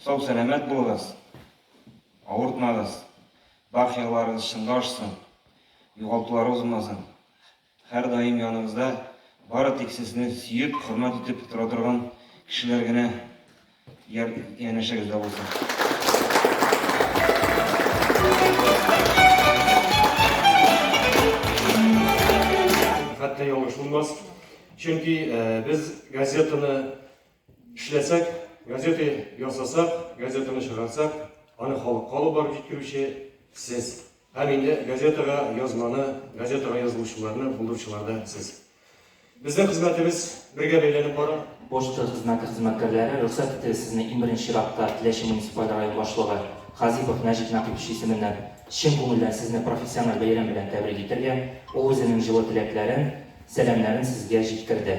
Сау-сәламәт булыгыз, авыртмагыз, бар хыялларыгыз чынга ашсын, югалтуларыгыз булмасын. Һәрдаим яныбызда бары тик сезне сөеп, хөрмәт итеп тора торган кешеләр генә янәшәгездә булсын. Хәтта ялгыш булмас, чөнки без газетаны Эшләсәк, газета ясасак, газетаны чыгарсак, аны халыкка алып барып җиткерүче сез. Һәм инде газетага язманы, газетага язылучыларны булдыручылар да сез. Безнең хезмәтебез бергә бәйләнеп бара. Почта хезмәте хезмәткәрләре, рөхсәт итегез сезне иң беренче чиратта Теләче муниципаль район башлыгы Хазипов Нәҗип Нәкыйпович исеменнән чын күңелдән сезне профессиональ бәйрәм белән тәбрик итәргә, ул үзенең җылы теләкләрен, сәламнәрен сезгә җиткерде.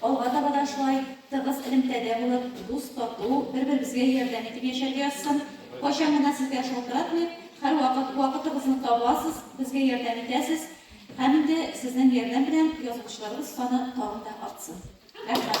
Алга таба да шулай тыгыз элемтәдә булып, дус, тату, бер-беребезгә ярдәм итеп яшәргә язсын. Кайчан гына сезгә шалтыратмыйк, һәрвакыт вакытыгызны табасыз, безгә ярдәм итәсез. Һәм инде сезнең ярдәм белән язылучыларыбыз саны тагын да артсын. Рәхмәт!